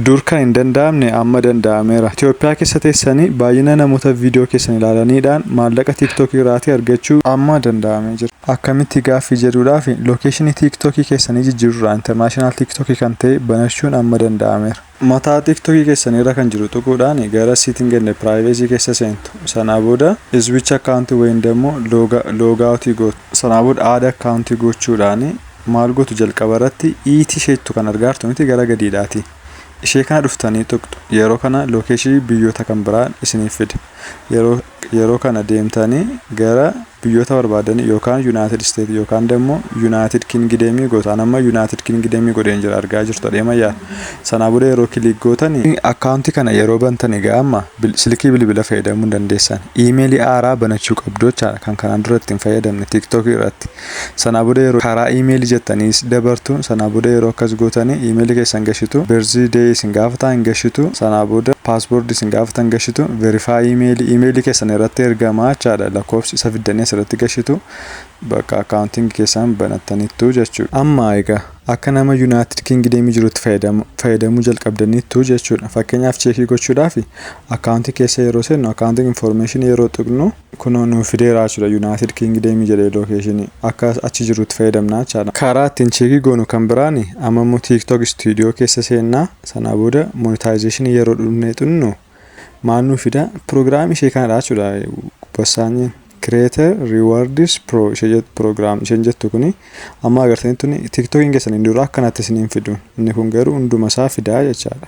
Dur kan hin danda'amne amma danda'ameera. Itoophiyaa keessa teessanii baay'ina namoota viidiyoo keessan ilaalaniidhaan maallaqa TikTok irraatii argachuu. amma danda'amee jira. Akkamitti gaaffii jedhuudhaaf location TikTok keessanii jijjiiruudhaan international TikTok kan ta'e banachuun amma danda'ameera. Mataa TikTok keessanii irra kan jiru tuquudhaan gara setting and privacy keessa seentu. Sanaa booda switch account ykn immoo log out gootu. Sanaa booda add account gochuudhaan maal gotu jalqaba irratti iitii isheettu kan argaartu miti gara gadiidhaati ishee kana dhuftanii tuqxu yeroo kana lookeeshii biyyoota kan biraa isiniif fida yeroo yeroo kana deemtanii gara biyyoota barbaadanii yookaan yuunaayitid isteet yookaan dammoo yuunaayitid kingideemii gootaan amma yuunaayitid kingideemii godheen jira argaa jirtu adeemayyaa sanaa booda yeroo kiliik gootanii akkaawuntii kana yeroo bantanii gaa amma silkii bilbila fayyadamuu dandeessan iimeelii aaraa banachuu qabdu jechaadha kan kanaan dura ittiin fayyadamne tiiktookii irratti Sanaa boda yeroo karaa email jettani dabartu sanaa boda yeroo akkas gotani email keessan gashitu birthday day isin gafata hin gashitu sanaa boda password isin gafata hin gashitu verify email email keessan irratti ergama jechaadha lakkoofsi isa fiddani asirratti gashitu bakka accounting keessan banattanitu jechuudha amma egaa akka nama united kingdom jirutti fayyadamu fayyadamuu jalqabdanitu jechuudha fakkeenyaaf cheekii gochuudhaaf account keessa yeroo seennu accounting information yeroo tuqnu Kunoo nuu fideeraa jechuudha United Kingdom jedhee location akka achi jirrutti fayyadamnaa jechaadha. Karaa ittiin cheekii goonu kan biraan amma immoo TikTok studio keessa seenna sanaa booda monetization yeroo dhufnee xunnu maal nuu fida program ishee kanadha jechuudha bassaanyiin creator rewards pro ishee jettu program isheen jettu kuni amma agartanii tuni TikTokiin keessan hin dura akkanatti isiniin fidu inni kun garuu hunduma isaa fidaa jechaadha.